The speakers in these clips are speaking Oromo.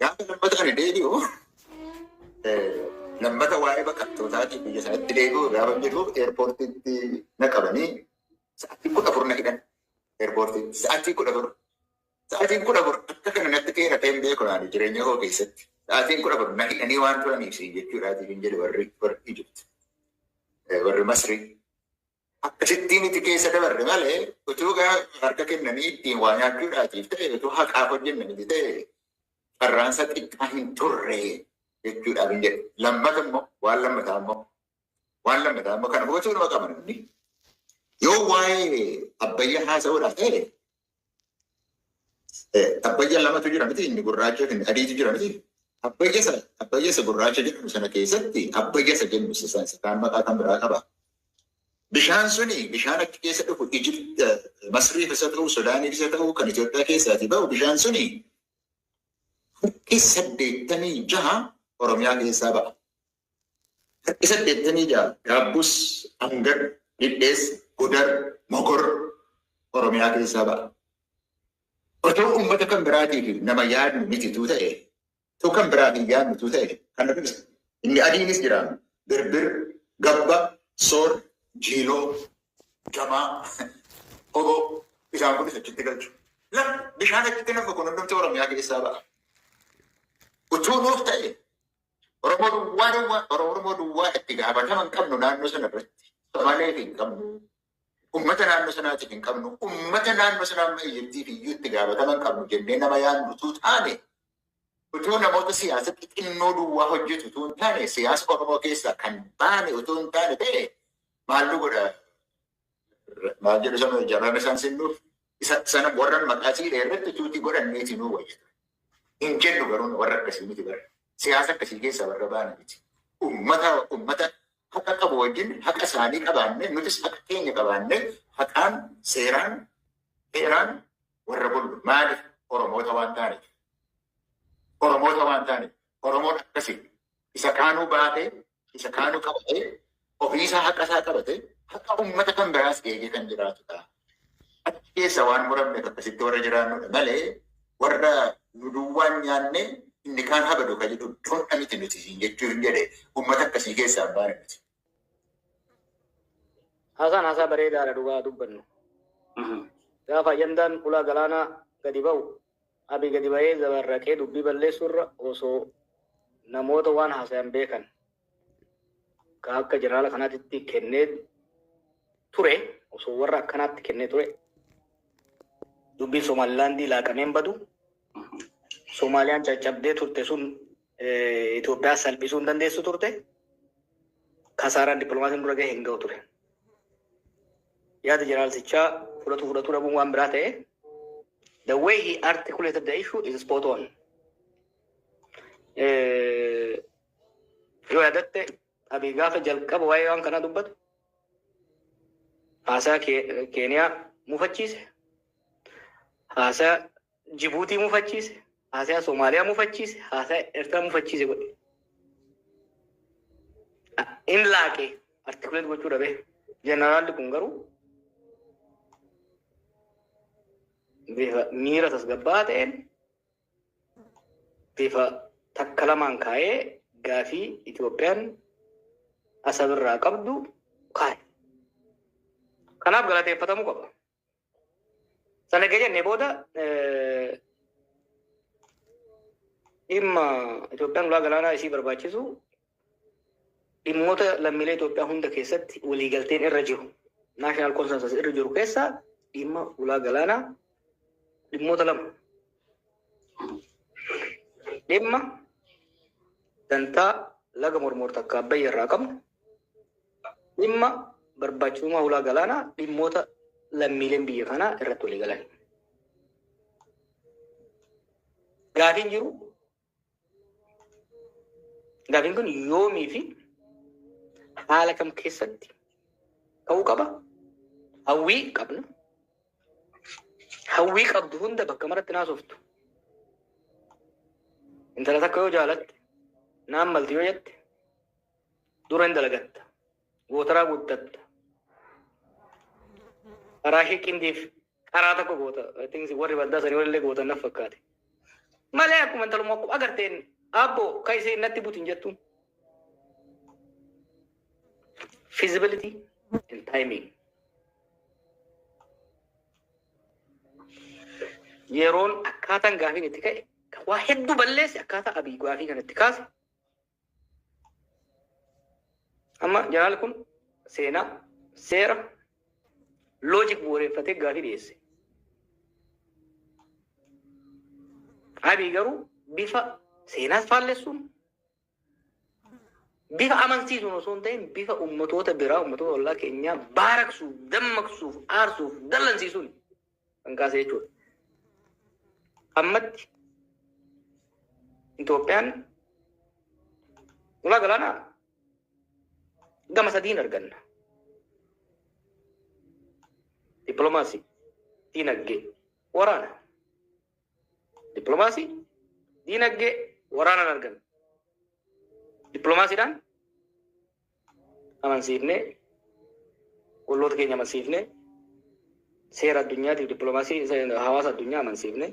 Gaafa lammata kana deebi'u lammata waa'ee baqattootaatiif biyya isaatti deebi'u gaafa jedhu eerpoortiitti na qabanii sa'aatii kudha afur na hidhan. Eerpoortiitti sa'aatii kudha afur. Sa'aatiin kudha afur akka kana natti dheeratee hin beeku naani jireenya koo keessatti. Sa'aatiin kudha afur na hidhanii waan turaniif siin jechuudhaatiif hin jedhe warri warri Ijipti. Warri Masrii. Akkasittii nuti keessa dabarre malee utuu gaa harka kennanii ittiin waa nyaachuudhaatiif ta'e utuu haqaaf hojjenne miti ta'e carraansa xiqqaa hin turre jechuudhaaf hin jedhu. Lammata immoo waan lammataa immoo waan lammataa immoo kana hubachuu nama qaba namni. Yoo waa'ee abbayyaa haasa'uudhaaf ta'e Abbayya lamatu jira miti inni gurraacha fi adiitu jira miti. Abbayya sana abbayya isa gurraacha jedhamu sana keessatti abbayya isa jennu isa sana isa kaan maqaa kan biraa qaba. Bishaan suni bishaan achi keessa dhufu Ijipt Masriif isa ta'u Sudaaniif isa ta'u kan Itoophiyaa keessaati ba'u bishaan suni furkii saddeettamii jaha Oromiyaa keessaa ba'a. Takki saddeettamii ja'a Gaabbus, Angar, Dhidheessa, Gudar, Mogor Oromiyaa keessaa ba'a. Otoo uummata kan biraatii fi nama yaadnu mitituu ta'e, otoo kan biraatiin yaadnutuu ta'e kan nuti ibsa. Inni adiinis jiraama. Birbir, Gabba, Soor, Jiiloo, Jamaa, Oboo isaan kunis achitti galchu. Laf bishaan achitti nafa kun hundumti Oromiyaa keessaa ba'a. Utuu nuuf ta'e Oromoo duwwaa duwwaa Oro- Oromoo duwwaa itti gaafatama hin qabnu naannoo sana irratti. Somaaleef hin qabnu. Uummata naannoo sanaatiif hin qabnu. Uummata naannoo sanaa amma iyyattiif iyyuu itti gaafatama hin qabnu jennee nama yaadnu utuu taane utuu namoota siyaasa xixinnoo duwwaa hojjetu utuu hin taane siyaasa Oromoo keessaa kan baane utuu hin taane ta'e maal nu godha maal jedhu sana jaraana isaan sinnuuf Isa sana warran maqaa siidha irratti tuutii godhan niiti nuu wayya ture. Hin jennu garuu warra akkasii miti bara. Siyaasa akkasii keessaa warra baana miti. Ummata ummata haqa qabu wajjin haqa isaanii qabaanne nutis haqa keenya qabaanne haqaan seeraan heeraan warra bullu maaliif Oromoota waan taaneef. Oromoota waan taaneef. Oromoon akkasii isa kaanuu baatee isa kaanu qabatee ofiisaa haqa isaa qabatee haqa uummata kan biraas eegee kan jiraatudha. Achi keessa waan muramneef akkasitti warra jiraannudha malee warra nu duwwaan nyaanne inni kaan habadu kan jedhu doodha miti nuti siin jechuu hin jedhe uummata akkasii keessaa hin baane miti. Haasaan haasaa bareedaadha dhugaa dubbannu. Gaafa ayyandaan ulaa galaanaa gadi ba'u Abiy gadi bahee zabarraqee dubbii balleessuu irra osoo namoota waan haasayan beekan ka akka jeneraala kanaatitti kennee ture osoo warra akkanaatti kennee ture dubbiin Somaalilaandii laaqameen badu Somaaliyaan caccabdee turte sun Itoophiyaa salphisuu hin dandeessu turte. Kasaaraan dippiloomaasiin dura gahe hin gahu ture. Yaada jeneraalsichaa fudhatu fudhatu dhabuun waan biraa ta'e. The way he articulated the issue is spot on. Yoo yaadatte abii gaafa jalqaba waa'ee waan kanaa dubbatu haasaa Keeniyaa mufachiise. Haasaa Jibuutii mufachiise, haasaya Somaaliyaa mufachiise, haasaya Eertiraa mufachiise godhe. In laaqee artikuleet gochuu dhabe. Jeneraalli kun garuu bifa miira tasgabbaa'aa ta'een bifa takka lamaan kaa'ee gaafii Itoophiyaan asabirraa qabdu kaa'e. Kanaaf galateeffatamuu qaba. Sana erga jennee booda dhimma Itoophiyaan ulaa galaanaa isii barbaachisu dhimmoota lammiilee Itoophiyaa hunda keessatti waliigalteen irra jiru naashinaal konsensus irra jiru keessa dhimma ulaa galaanaa dhimmoota lama dhimma dantaa laga mormoor takka abbayya irraa qabnu Dhimma barbaachisummaa hulaa galaanaa dhimmoota lammiileen biyya kanaa irratti walii galan. Gaafiin jiru gaafiin kun yoomii fi haala kam keessatti ta'uu qaba? Hawwii qabna. Hawwii qabdu hunda bakka maratti naasoftu. Intala takka yoo jaalatte, naan malti yoo jette, Dura hin dalagatta. Gootaraa guddatta. Karaa ishee qindiif karaa tokko goota. I think warri baddaa sanii walillee gootan naf fakkaate. Malee akkuma intalummaa akkuma agarteen abbo ka ishee natti butin jettu. Feasibility and timing. Yeroon akkaataan gaafiin itti ka'e kan waa hedduu balleesse akkaataa abii gaafii kanatti kaase Amma janaal kun seenaa seera loojik bu'uureffatee gaafii dhiyeesse. Abii garuu bifa seenaas faallessuun bifa amansiisuun osoo hin ta'in bifa ummatoota biraa ummatoota ollaa keenyaa baaraksuuf, dammaqsuuf, aarsuuf, dallansiisuun kan kaase jechuudha. Ammatti Itoophiyaan ulaa galaanaa gama sadiin arganna. Dippiloomaasii, diinagdee, waraana. Dippiloomaasii, diinagdee, waraanaan arganna. Dippiloomaasiidhaan amansiifne, olloota keenya amansiifne, seera addunyaatiif dippiloomaasii hawaasa addunyaa amansiifne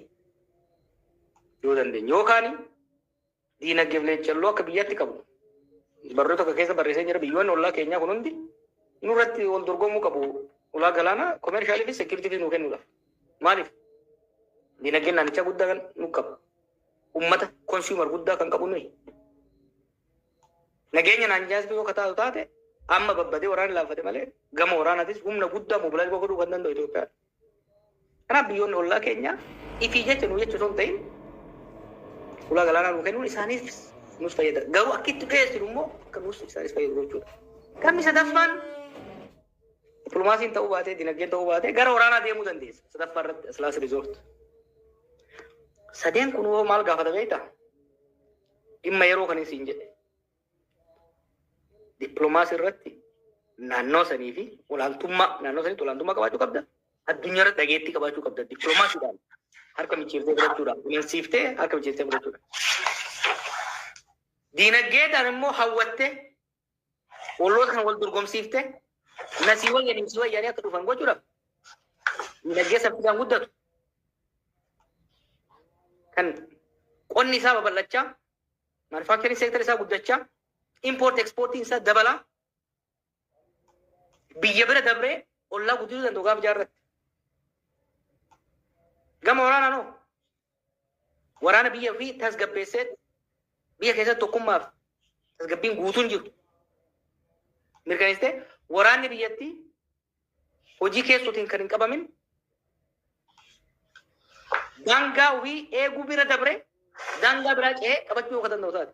yoo dandeenye yookaan diinagdeef leeccalloo akka biyyaatti qabu barruu tokko keessa barreessee jira biyyoonni ollaa keenyaa kun hundi nurratti wal dorgomuu qabu ulaa galaanaa komeershaalii fi seekiritiivii nuu kennuudhaaf maaliif diinagdeen naannichaa guddaa kan nu qabu ummata konsuumar guddaa kan qabu nuyi Nageenya naan jaastuu yoo ka taatu taate amma babbadee waraanni laaffate malee gama waraanaatis humna guddaa mobilaayiz godhuu kan danda'u Itoophiyaadha. Kanaaf biyyoonni ollaa keenya ifii jecha nuu jecha osoo hin ta'in ulaa galaanaa nuu kennuun isaaniif nus fayyada. Garuu akka itti dhiyeessinu immoo akka nus isaanis fayyadu gochuudha. Gamni sadaffaan dippilomaasiin ta'uu baatee dinagdeen ta'uu baatee gara waraanaa deemuu dandeessa. Sadaffaa irratti aslaas riizoort. Sadeen kun hoo maal gaafata beektaa? Dhimma yeroo kanin siin jedhe dippiloomaasii irratti naannoo sanii fi olaantummaa naannoo saniitti olaantummaa qabaachuu qabda. Addunyaa irratti dhageettii qabaachuu qabda. Dippiloomaasiidhaan harka micciirtee fudhachuudhaan kunuunsiiftee harka micciirtee fudhachuudhaan. Diinagdeedhaan immoo hawwattee Olloota kan wal dorgomsiifte nasii wayyan imsi wayyaanii akka dhufan gochuudhaaf dinagdee saffisaan guddatu kan qonni isaa babal'achaa manufaaktariin seektar isaa guddachaa impoort ekspoortiin isaa dabalaa biyya bira dabree ollaa guddisuu danda'u gaafa jaarratti. Gama waraanaan hoo Waraana biyya ofii tasgabbeessee biyya keessatti tokkummaaf tasgabbiin guutuun jiru mirkaneessitee waraanni biyyattii hojii keessootiin kan hin qabamin daangaa ofii eeguu bira dabree daangaa biraa ce'ee qabachuu kan danda'u taate.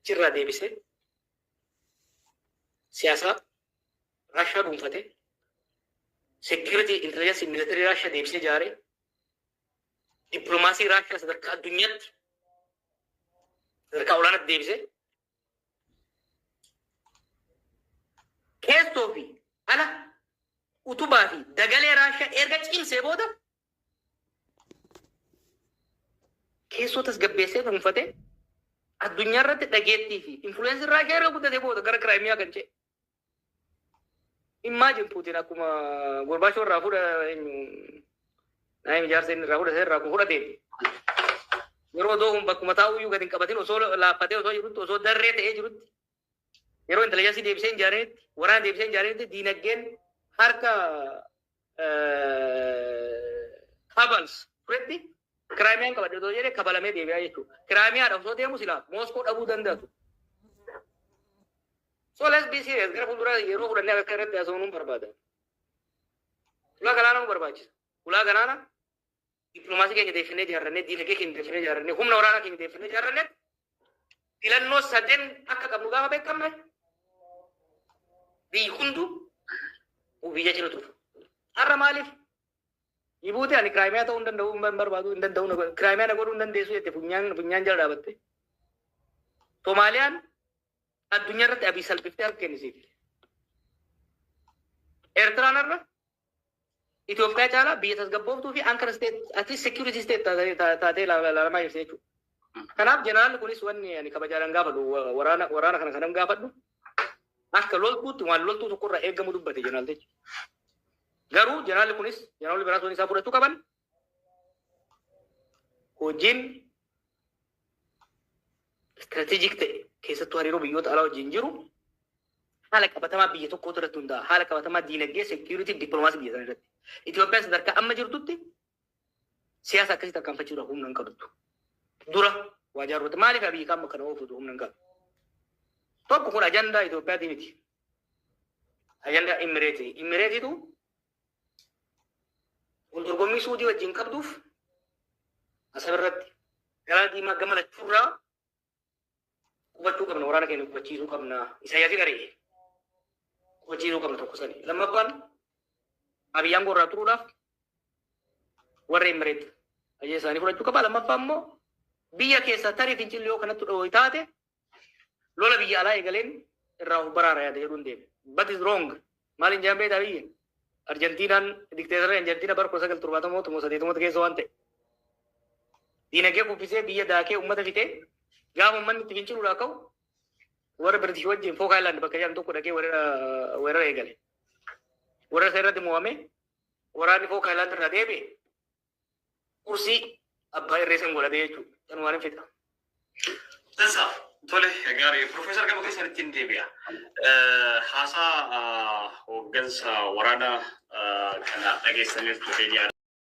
Achi irraa deebisee siyaasaa Raashaa dhuunfatee security intelligence military Raashaa deebisee ijaaree dippiloomaasii Raashaa sadarkaa addunyaatti sadarkaa olaanaatti deebisee keessoo fi ala utubaa fi dagalee Raashaa erga cimsee booda keessoo tasgabbeessee dhuunfate addunyaa irratti dhageettii fi influensii Raashiyaa irra guddate booda gara Kiraayimiyaa kan ce'e. Immaajin Puutiin akkuma Gorbaachoo irraa fuudha eenyu naayim ijaarsa inni irraa fuudha irraa kun fudhateen yeroo doohuun bakkuma taa'uu iyyuu gadi hin qabatin osoo laaffatee osoo jirutti osoo darree ta'ee jirutti Yeroo intelijansii deebisee hin jaarinitti, waraana deebisee hin jaarinitti diinagdeen harka kabals turetti kiraamiyaan qabadhe otoo jedhee kabalamee deebi'aa jechuudha. Kiraamiyaadha osoo deemu silaa Mooskoo dhabuu danda'atu. So let's be serious. Gara fuulduraa yeroo fudhannee akka irratti haasawuun barbaada. Ulaa galaana nu barbaachisa. Ulaa galaana Dippilomaasii keenya deeffannee ijaarrannee, diinagdee keenya deeffannee ijaarrannee, humna waraanaa keenya deeffannee ijaarrannee filannoo sadeen akka qabnu gaafa beekamne biyyi hunduu biyya cina tufu. Har'a maaliif? Jibuutii ani kiraayimiyaa ta'uu hin danda'u hin barbaadu hin danda'u na godhu kiraayimiyaa na godhuu hin dandeessu jette funyaan funyaan jala dhaabatte. Soomaaliyaan addunyaa irratti abii salphiftee harka kennisiif. Eertiraan irra Itoophiyaa caalaa biyya tasgabbooftuu fi anchor state at least security state taatee- ta- taatee la- ilaalamaa jirti jechuudha. Kanaaf jeneraalli kunis wanni ani kabajaadhaan gaafadhu wa- waraana waraana kana kanan gaafadhu akka loltuutti waan loltuu tokkorraa eegamu dubbate jeneraaltichi. Garuu jeneraalli kunis jeneraalli biraas wanni isaa fudhachuu qaban hojiin istiraatejik ta'e keessattuu hariiroo biyyoota alaa wajjin jiru haala qabatamaa biyya tokkootu irratti hundaa'a. Haala qabatamaa diinagdee, seekiyuritii, dippiloomaasii biyya sana irratti. Itoophiyaan sadarkaa amma jirtutti siyaasa akkasii tarkaanfachuudhaaf humna hin qabdu. Dura waa jaarroote maaliif abiyyi qaama kana oofutu humna hin qabu? Tokko kun ajandaa Itoophiyaatii miti. Ajandaa Imireetii. Imireetiitu Wal dorgommii Suudii wajjin qabduuf Asab irratti Galaana Diimaa gama lachuurraa qubachuu qabna waraana keenya qubachiisuu qabna Isaayyaasiin ari'ee qubachiisuu qabna tokko sani. Lammaffaan Abiy Aangoo irraa turuudhaaf warra Imireet ajajaa isaanii fudhachuu qaba. Lammaffaa immoo biyya keessaa tarii fincilli yoo kanatti dhoohi taate Lola biyya alaa eegaleen irraa of baraara yaada jedhuun deeme. But is wrong. Maaliin jedhan beektaa biyya? Arjantiinaan dikteetarri Arjantiina bara 1970 moo 80 keessa waan ta'e. Diinagdee kuffisee biyya daakee uummata fixee gaafa uummanni itti finciluudhaa ka'u warra Biritish wajjin Fook Ayilaand bakka jedhamu tokko dhaqee weerara eegale. Weerara isaa irratti mo'amee waraanni Fook Ayilaand irraa deebi'e Kursii abbaa irree san godhatee jechuudha. Kan waan hin fixaa. Dansa tole gaarii Profeesar gama keessanitti hin deebi'a. Haasaa hooggansa waraanaa kana dhageessaniirtu keenya.